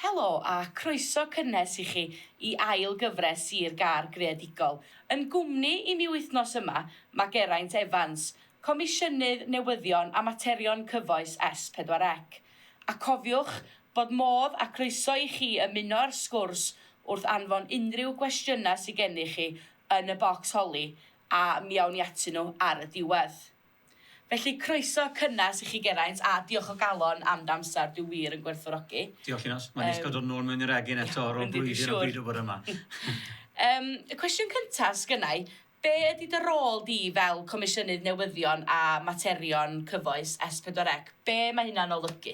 Helo a chroeso cynnes i chi i ail gyfres Sir Gâr Greadigol. Yn gwmni i mi wythnos yma mae Geraint Evans, Comisiynydd Newyddion a Materion Cyfoes S4C. A cofiwch bod modd a chroeso i chi ymuno â'r sgwrs wrth anfon unrhyw gwestiynau sy gennych chi yn y bocs holi a mi awn ni atyn nhw ar y diwedd. Felly, croeso cynnes i chi Geraint, a diolch o galon am dy amser, dwi wir yn gwerthfawrogi. Diolch Linos, mae'n neis cael dod nôl mewn i'r egin eto ar ôl blwyddyn o beidio bod yma. Yym, y cwestiwn cyntaf sgynna i, be ydy dy rôl di fel Comisiynydd Newyddion a Materion Cyfoes S4C? Be mae hynna'n olygu?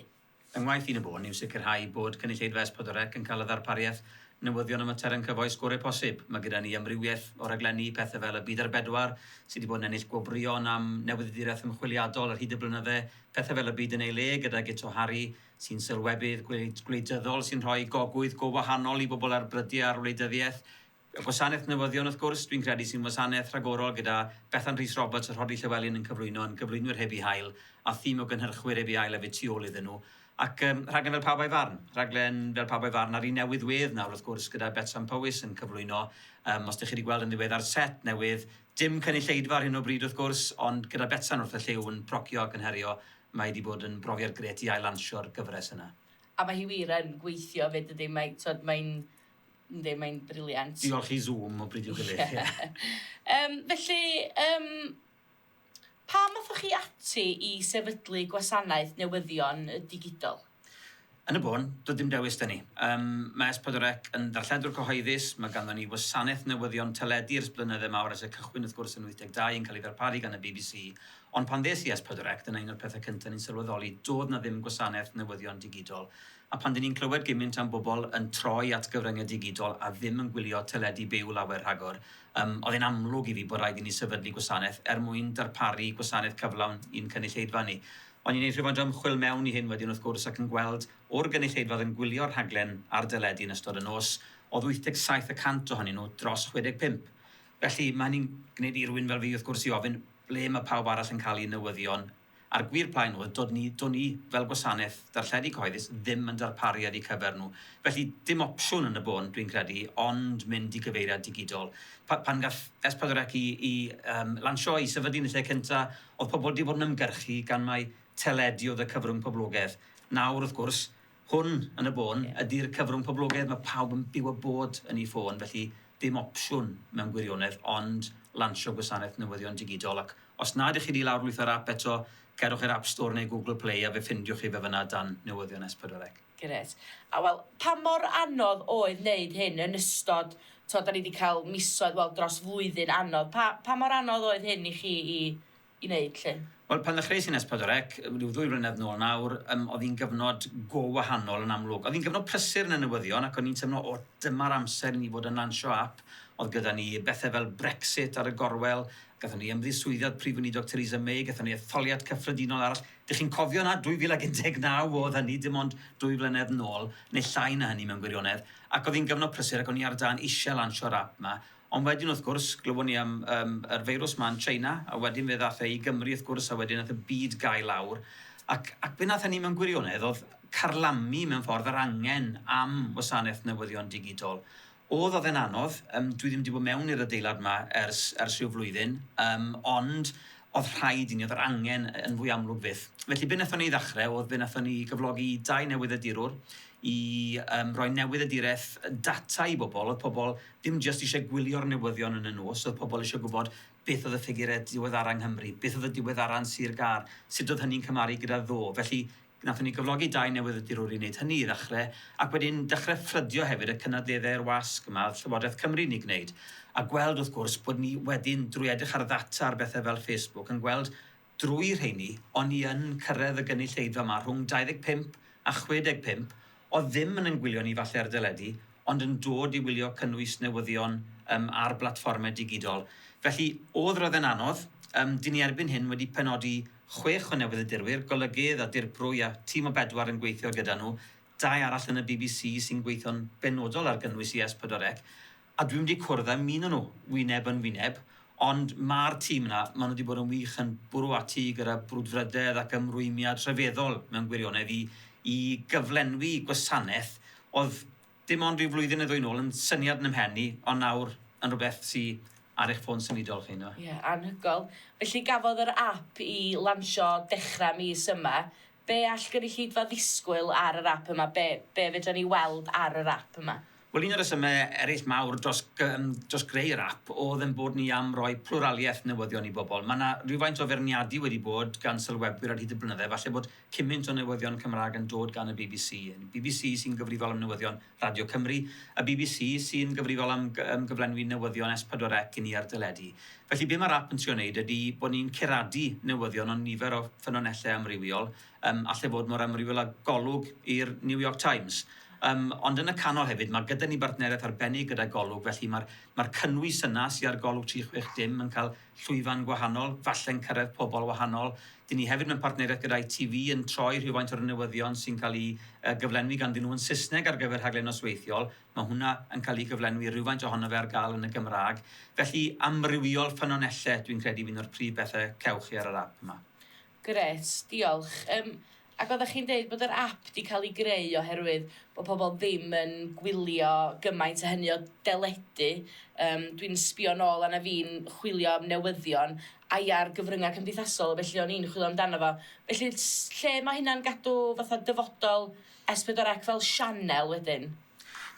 Fy ngwaith i yn y bôn yw sicrhau bod cynulleidfa Espodorec yn cael y ddarpariaeth, newyddion a materion cyfoes gore posib. Mae gyda ni amrywiaeth o raglenni, pethe fel Y Byd ar Bedwar, sy 'di bod yn ennill gwobrwyon am newyddiaduraeth ymchwiliadol ar hyd y blynydde, pethe fel Y Byd yn ei Le gyda Guto Harri, sy'n sylwebydd gwleidyddol sy'n rhoi gogwydd go wahanol i bobl ar brydiau ar wleidyddiaeth, Y gwasanaeth newyddion wrth gwrs, dwi'n credu, sy'n wasanaeth rhagorol gyda Bethan Rhys Roberts a Rhodri Llewelyn yn cyflwyno yn gyflwynwyr heb eu hail a thîm o gynhyrchwyr heb eu hail hefyd tu ôl iddyn nhw. Ac yym, rhaglen fel Pawb a'i Farn. Rhaglen fel Pawb a'i Farn, a'r un newydd wedd nawr wrth gwrs gyda Betsan Powys yn cyflwyno, yym, os dych chi wedi gweld yn ddiweddar set newydd, dim cynulleidfa ar hyn o bryd wrth gwrs, ond gyda Betsan wrth y llyw yn procio ac yn herio, mae hi wedi bod yn brofiad grêt i ail-lansio'r gyfres yna. A mae hi wir yn gweithio 'fyd dydi? Mae, tibod, mae'n Yndi, mae'n briliant. Diolch i Zoom o bryd i'w gilydd. Ie. Yym, felly, yym, pam athoch chi ati i sefydlu Gwasanaeth Newyddion y Digidol? Yn y bôn, doedd dim dewis 'da ni. Yym, mae S4C yn ddarlledwr cyhoeddus, mae ganddo ni wasanaeth newyddion teledu ers blynydde mawr ers y cychwyn wrth gwrs yn 82 yn cael ei ddarparu gan y bbc, ond pan ddes i S4C, dyna un o'r pethau cyntaf ni'n sylweddoli, doedd 'na ddim gwasanaeth newyddion digidol A phan dyn ni'n clywed gymint am bobl yn troi at gyfryngau digidol a ddim yn gwylio teledu byw lawer rhagor, yym, oedd e'n amlwg i fi bod raid i ni sefydlu gwasanaeth er mwyn darparu gwasanaeth cyflawn i'n cynulleidfa ni. O'n i'n neud rhywfaint o ymchwil mewn i hyn wedyn wrth gwrs ac yn gweld, o'r gynulleidfa oedd yn gwylio'r rhaglen ar deledu yn ystod y nos, oedd 87 y cant ohonyn nhw dros 65. Felly, ma' hynny'n gwneud i rywun fel fi wrth gwrs i ofyn, ble ma' pawb arall yn cael eu newyddion? A'r gwir plaen oedd, do'n ni, do'n ni fel gwasanaeth darlledu cyhoeddus ddim yn darparu ar eu cyfer nhw. Felly, dim opsiwn yn y bôn, dwi'n credu, ond mynd i gyfeiriad digidol. Pa- pan gath Es Pedwar Ec 'i 'i yym lansio, 'i sefydlu yn y lle cynta', o'dd pobol 'di bod yn ymgyrchu gan mai teledu o'dd y cyfrwng poblogedd. Nawr, wrth gwrs, Hwn, yn y bôn, ydy'r cyfrwng poblogaidd, mae pawb yn byw a bod yn eu ffôn, felly dim opsiwn mewn gwirionedd ond lansio gwasanaeth newyddion digidol ac os na ydych chi 'di lawrlwytho'r ap eto, cerwch i'r App Store neu Google Play a fe ffindiwch chi fe fan'na dan Newyddion S4C. Grêt. A wel, pa mor anodd oedd wneud hyn yn ystod, tibod, 'da ni 'di cael misoedd, wel, dros flwyddyn anodd. Pa, pa mor anodd oedd hyn i chi i i wneud 'lly? Wel, pan ddechreuais i nes pedwar ec, ryw ddwy flynedd nôl nawr, yym, oedd hi'n gyfnod go wahanol yn amlwg. Oedd hi'n gyfnod prysur yn y newyddion ac o'n i'n teimlo, o, dyma'r amser i ni fod yn lansio ap. Oedd gyda ni bethe fel Brexit ar y gorwel, gathon ni ymddiswyddi o'r Prif Weinidog Theresa May, gathon ni etholiad cyffredinol arall. Dych chi'n cofio 'na? 2019 oedd hynny, dim ond dwy flynedd nôl, neu llai na hynny mewn gwirionedd, ac oedd hi'n gyfnod prysur ac o'n i ar dân eisiau lansio'r ap 'ma, Ond wedyn wrth gwrs, glywon ni am yym yr feirws 'ma yn China, a wedyn fe ddath e i Gymru wrth gwrs, a wedyn nath y byd gau lawr, ac ac be' nath hynny mewn gwirionedd o'dd carlamu mewn ffordd yr angen am wasaneth newyddion digidol. O'dd, o'dd e'n anodd, yym dwi ddim 'di bod mewn i'r adeilad 'ma ers ers rhyw flwyddyn, yym ond o'dd rhaid i ni, o'dd yr angen yy yn fwy amlwg fyth. Felly be' nathon ni ddechre o'dd fe nathon ni gyflogi dau newyddedirwr i yym roi newyddedireth yy data i bobol, o'dd pobol Dim jyst eisiau gwylio'r newyddion yn y nos, oedd pobl eisiau gwybod beth oedd y ffigurau diweddara' yng Nghymru, beth oedd y diweddara' yn Sir Gâr, sut oedd hynny'n cymharu gyda ddo. Felly, wnaethon ni gyflogi dau newyddiadurwr i wneud hynny i ddechrau, ac wedyn dechrau ffrydio hefyd y cynadleddau i'r wasg yma oedd Llywodraeth Cymru'n ei gwneud, a gweld, wrth gwrs, bod ni wedyn, drwy edrych ar ddata ar bethau fel Facebook, yn gweld drwy rheiny, o'n i yn cyrraedd y gynulleidfa 'ma rhwng 25 a 65 oedd ddim yn yn gwylio ni falle ar deledu, ond yn dod i wylio cynnwys newyddion yym ar blatfformau digidol. Felly, o'dd roedd e'n anodd. Yym, dyn ni erbyn hyn wedi penodi chwech o newyddiadurwyr, golygydd a dirprwy a tîm o bedwar yn gweithio gyda nhw, dau arall yn y bbc sy'n gweithio'n benodol ar gynnwys i S4C, A dwi'm 'di cwrdd â'm un o nhw, wyneb yn wyneb, ond ma'r tîm 'na, ma' nhw 'di bod yn wych yn bwrw ati gyda brwdfrydedd ac ymrwymiad rhyfeddol mewn gwirionedd i i gyflenwi gwasanaeth o'dd dim ond ryw flwyddyn neu ddwy nôl yn syniad yn 'y mhen i, ond nawr yn rhywbeth sy ar eich ffôn symudol chi, yndyw e? Ie, anhygoel. Felly gafodd yr ap 'i lansio dechra' mis yma, Be all gynulleidfa ddisgwyl ar yr ap yma? Be, be fedran ni weld ar yr ap yma? Wel, un o'r rhesymau eraill mawr dros, yym, dros greu yr ap oedd ein bod ni am roi plwraliaeth newyddion i bobl. Mae 'na rywfaint o feirniadu wedi bod gan sylwebwyr ar hyd y blynydde, falle bod cymynt o newyddion Cymraeg yn dod gan y bbc. Bbc sy'n gyfrifol am newyddion Radio Cymru, y bbc, sy'n gyfrifol am am gyflenwi newyddion S pedwar Ec i ni ar deledu. Felly be mae'r ap yn trio wneud ydy bod ni'n curadu newyddion o nifer o ffynonellau amrywiol, yym allai fod mor amrywiol â Golwg i'r New York Times. Yym ond yn y canol hefyd mae gyda ni bartneriaeth arbennig gyda Golwg felly mae'r mae'r cynnwys yna sy ar Golwg tri chwech dim yn cael llwyfan gwahanol, falle'n cyrraedd pobl wahanol. Dyn ni hefyd mewn partneriaeth gyda ITV yn troi rhywfaint o'r newyddion sy'n cael eu gyflenwi ganddyn nhw yn Saesneg ar gyfer rhaglen nosweithiol, mae hwnna yn cael ei gyflenwi, rhywfaint ohono fe ar gael yn y Gymraeg. Felly, amrywiol ffynonellau dwi'n credu fydd un o'r prif bethau cewch chi ar yr ap yma. Grêt, diolch. Yym, ac oeddech chi'n deud bod yr ap 'di cael ei greu oherwydd bod pobl ddim yn gwylio gymaint a hynny o deledu. Yym, dwi'n sbio nôl arna fi'n chwilio am newyddion, ai ar gyfryngau cymdeithasol, felly o'n i'n chwilio amdano fo. Felly, lle mae hynna'n gadw fatha dyfodol S4C fel sianel wedyn?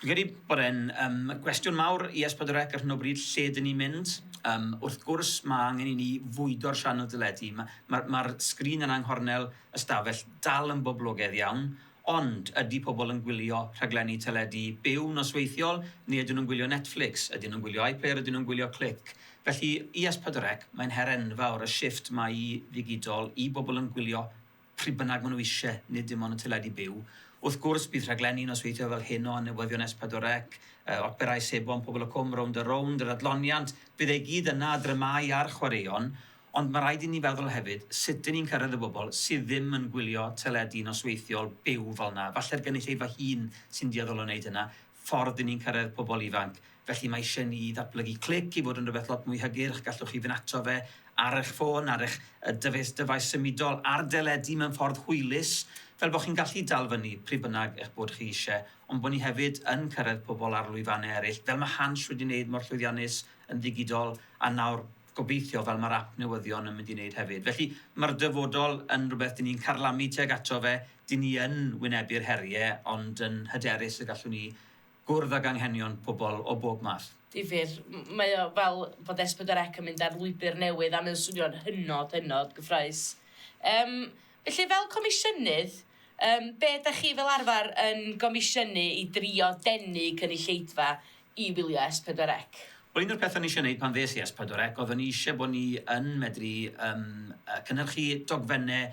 Dwi'n credu bod e'n yym gwestiwn mawr i S4C ar hyn o bryd, lle dyn ni'n mynd. Yym wrth gwrs ma' angen i ni fwydo'r sianel deledu. Ma' ma'r ma'r sgrin yna yng nghornel y stafell dal yn boblogedd iawn, ond ydi pobl yn gwylio rhaglenni teledu byw nosweithiol, neu ydyn nhw'n gwylio Netflix, ydyn nhw'n gwylio iPlayer, ydyn nhw'n gwylio Clic? Felly i S4C mae'n her enfawr y shifft 'ma i ddigidol, i bobl yn gwylio pryd bynnag maen nhw eisiau, nid dim ond y teledu byw. Wrth gwrs, bydd rhaglenni nosweithiol fel hyn o newyddion S4C, operâu sebon Pobol y Cwm, Rownd a Rownd, yr adloniant, bydd e i gyd yna, a dramâu a'r chwaraeon, ond mae rhaid i ni feddwl hefyd, sut dŷn ni'n cyrraedd y bobl sydd ddim yn gwylio teledu nosweithiol byw fel yna. Falle'r gynulleidfa hŷn sy'n dueddol o wneud hynna. ffordd i ni'n cyrraedd pobl ifanc. Felly mae eisiau ni ddatblygu Clic i fod yn rhywbeth lot mwy hygyrch, gallwch chi fynd ato fe ar eich ffôn, ar eich dyfais dyfais symudol, ar deledu mewn ffordd hwylus, fel bod chi'n gallu dal fyny pryd bynnag eich bod chi eisiau, ond bod ni hefyd yn cyrraedd pobl ar lwyfannau eraill, fel mae Hans wedi wneud mor llwyddiannus yn ddigidol, a nawr, gobeithio, fel mae'r ap newyddion yn mynd i wneud hefyd. Felly, mae'r dyfodol yn rhywbeth dyn ni'n carlamu tuag ato fe, dyn ni yn wynebu'r heriau, ond yn hyderus y gallwn ni gwrdd ag anghenion pobl o bob math. Difyr. Mae o fel bod S4C yn mynd ar lwybr newydd a mae o'n swnio'n hynod, hynod gyffrous. Yym, felly fel comisiynydd, yym, be' 'dach chi fel arfer yn gomisiynu i drio denu cynulleidfa i wylio S4C. Wel un o'r pethe o'n i isio neud pan ddes i S4C odd o'n i isie bo' ni yn medru yym yy cynhyrchu dogfenne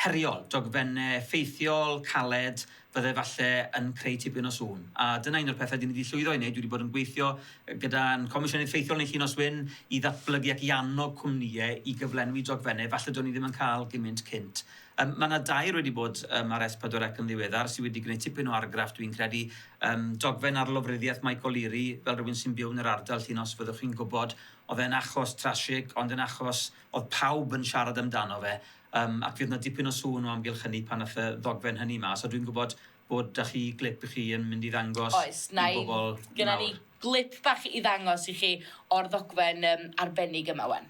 heriol, dogfenne effeithiol, caled, fydde falle yn creu tipyn o sŵn. A dyna un o'r pethe dyn ni 'di llwyddo i neud, dwi 'di bod yn gweithio yy gyda'n Comisiynydd Ffeithiol Neill Unos Wyn i ddatblygu ac i annog cwmnïe i gyflenwi dogfenne falle do'n ni ddim yn ca'l gymint cynt. Yym, mae 'na dair wedi bod yym ar S4C yn ddiweddar sydd wedi gwneud tipyn o argraff dwi'n credu. Yym, dogfen ar lofruddiaeth Mike O'Leary, fel rhywun sy'n byw yn yr ardal, chi'n os fyddwch chi'n gwybod, oedd e'n achos trasig, ond yn achos oedd pawb yn siarad amdano fe, yym, ac fydd 'na dipyn o sŵn o amgylch hynny pan aeth y ddogfen hynny mas, a dwi'n gwybod bod 'da chi glip chi yn mynd i ddangos i bobl nawr. Oes, na i, gynna ni glip bach i ddangos i chi o'r ddogfen yym arbennig yma wan.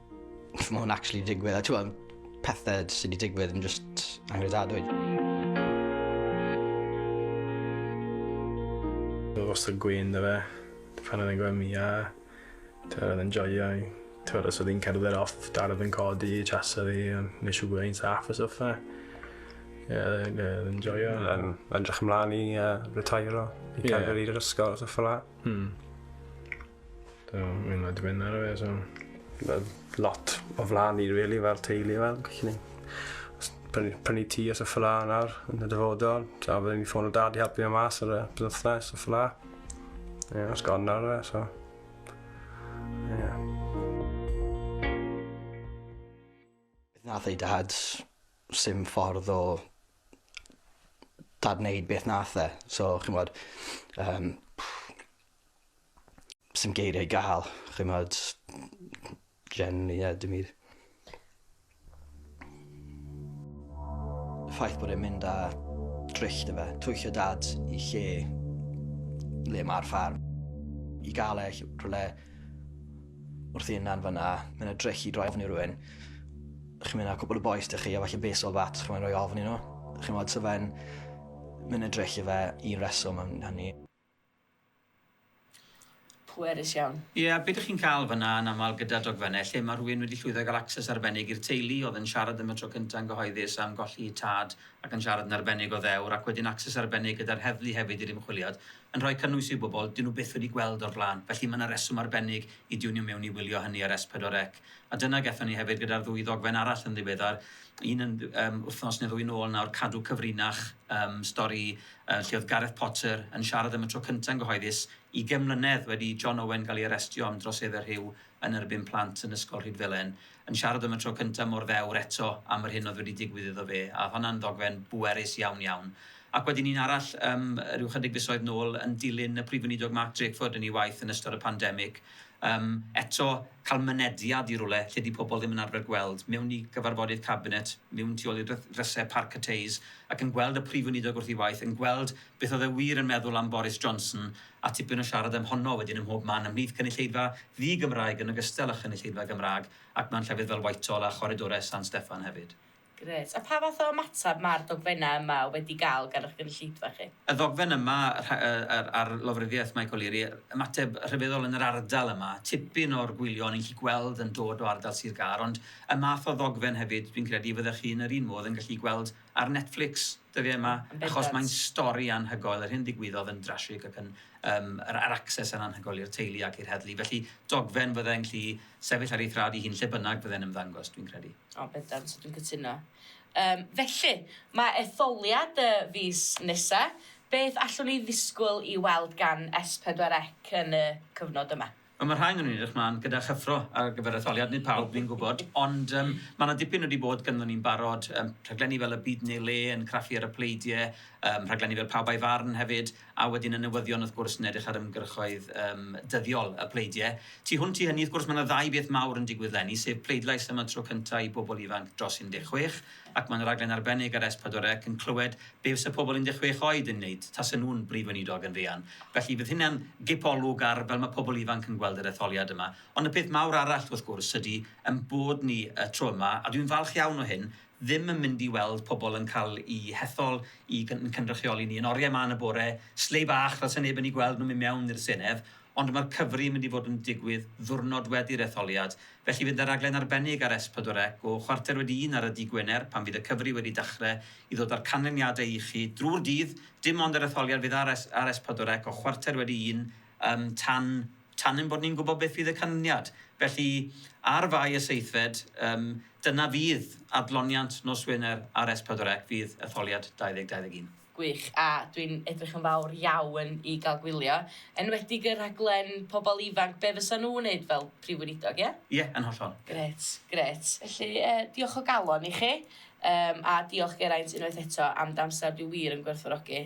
Mae hwn actually digwydd, a ti'n pethau sydd wedi digwydd yn just angredadwy. Oedd wastad gwyn da fe, pan oedd yn gweld mi, a ti'n oedd yn joio i. Ti'n oedd yn cerdded off, dad oedd yn codi, chasa fi, a nes i gwneud saff a stuff fe. Ie, oedd yn joio. Yn edrych ymlaen i uh, retairo, i yeah. cadw i'r ysgol, stuff fel la. Hmm. So, mi'n rhaid i mynd ar y fe, so... Mae lot o flan i, really, fel teulu, fel, chi ni. Prynu, prynu ti os y ffla nawr, yn y dyfodol. So, byddwn i'n ffôn o dad i helpu am mas ar y bythnos, y ffla. Ie, yeah, os gofyn ar y fe, so... Ie. Yeah. Nath ei dad, sy'n ffordd o dad wneud beth nath e. So, chi'n bod, um, Sdim geiria i ga'l. Ch'mod generally ie dim myd. Y ffaith bod e'n mynd â drych 'da fe. Twyllo Dad i lle le ma'r ffarm. I ga'l e ll- rhwle wrth ei hunan fana. Ma' 'na drych i droi ofn i rywun. Chi'n myn' â cwpwl o bois 'da chi a falle baseball bat ch'mo' roi ofn i n'w. Ch'mod sa fe'n myn' â drych 'da fe i reswm am hynny. Pwerus iawn. Ie, be dych chi'n cael fan'na yn aml gyda dogfennau lle mae rhywun wedi llwyddo i gael access arbennig i'r teulu oedd yn siarad am y tro cyntaf yn gyhoeddus am golli eu tad ac yn siarad yn arbennig o ddewr ac wedyn access arbennig gyda'r heddlu hefyd i'r ymchwiliad yn rhoi cynnwys i'w bobl 'dyn nhw byth wedi gweld o'r blaen felly mae 'na reswm arbennig i diwnio mewn i wylio hynny ar S4C a dyna gethon ni hefyd gyda'r ddwy ddogfen arall yn ddiweddar un yn yym wythnos neu ddwy nôl nawr cadw cyfrinach yym stori yy lle oedd Gareth Potter yn siarad am y tro cynta' yn gyhoeddus, ugain mlynedd wedi i John Owen gael ei arestio am droseddau rhyw yn erbyn plant yn Ysgol Rhydfelen, yn siarad am y tro cynta' mor ddewr eto am yr hyn oedd wedi digwydd iddo fe, a oedd honna'n ddogfen bwerus iawn iawn. Ac wedyn un arall yym ryw chydig fisoedd nôl yn dilyn y Prif Weinidog Mark Drakeford yn ei waith yn ystod y pandemig, Yym, eto, cael mynediad i rywle lle 'di pobl ddim yn arfer gweld, mewn i gyfarfodydd cabinet, mewn tu ôl i dry- drysau Parc y Teis, ac yn gweld y Prif Weinidog wrth ei waith, yn gweld beth oedd e wir yn meddwl am Boris Johnson, a tipyn o siarad am honno wedyn ym mhob man ymhlith cynulleidfa ddi-Gymraeg yn ogystal â chynulleidfa Gymraeg, ac mewn llefydd fel Whitehall a choridorau San Steffan hefyd. Grêt. A pha fath o ymateb mae'r dogfennau yma wedi cael gan eich gynulleidfa chi? Y ddogfen yma ar lofruddiaeth Mike O'Leary, ymateb rhyfeddol yn yr ardal yma. Tipyn o'r gwylion yn gallu gweld yn dod o ardal Sir Gâr, ond y math o ddogfen hefyd, dwi'n credu y fyddech chi yn yr un modd yn gallu gweld ar Netflix dyddiau yma, achos mae'n stori anhygoel, yr hyn ddigwyddodd yn drasig ac yn, yym, yr access yn anhygoel i'r teulu ac i'r heddlu. Felly, dogfen fydda i'n gallu Sefyll ar ei thraed ei hun lle bynnag bydde'n ymddangos, dwi'n credu. O, bendant, dwi'n cytuno. Yym, felly, mae etholiad y fis nesa'. Beth allwn ni ddisgwyl i weld gan Es Pedwar Ec yn y cyfnod yma? Wel, mae rhai ohonyn ni'n edrych mlaen gyda chyffro ar gyfer etholiad, nid pawb, fi'n gwybod, ond yym mae 'na dipyn wedi bod ganddo ni'n barod, yym rhaglenni fel Y Byd Yn Ei Le yn craffu ar y pleidie, yym rhaglenni fel Pawb A'i Farn hefyd, A wedyn y newyddion wrth gwrs yn edrych ar ymgyrchoedd yym dyddiol y pleidie. Tu hwnt i hynny wrth gwrs mae 'na ddau beth mawr yn digwydd 'leni sef pleidlais am y tro cynta' i bobl ifanc dros 16 ac mae'n raglen arbennig ar S4C yn clywed be' fysa pobl 16 oed yn neud tase nhw'n Brif Weinidog yn fuan. Felly fydd hynna'n gip olwg ar fel mae pobl ifanc yn gweld yr etholiad yma. Ond y peth mawr arall wrth gwrs ydi 'yn bod ni y tro yma a dwi'n falch iawn o hyn ddim yn mynd i weld pobl yn cael eu hethol i ein cynrychioli ni yn oriau 'ma yn y bore, sleigh bach fel 'sa neb yn eu gweld nhw'n mynd mewn i'r Senedd, ond mae'r cyfri yn mynd i fod yn digwydd ddiwrnod wedi'r etholiad, felly fydd 'na raglen arbennig ar S4C o chwarter wedi un ar y dydd Gwener pan fydd y cyfri wedi dachre i ddod â'r canlyniadau i chi drwy'r dydd, dim ond yr etholiad fydd ar S4C o chwarter wedi un Yym, tan, tan ein bod ni'n gwybod beth fydd y canlyniad. Felly, ar Fai y seithfed, yym, dyna fydd adloniant nos Wener ar S4C, fydd etholiad 2021. Gwych, a dwi'n edrych yn fawr iawn i gael gwylio, enwedig y rhaglen pobl ifanc, be fysa nhw'n wneud fel Prif Weinidog, ie? Ie, yn hollol. Grêt, grêt. Felly, yy, diolch o galon i chi, yym, a diolch Geraint unwaith eto am d'amser, dwi wir yn gwerthfawrogi.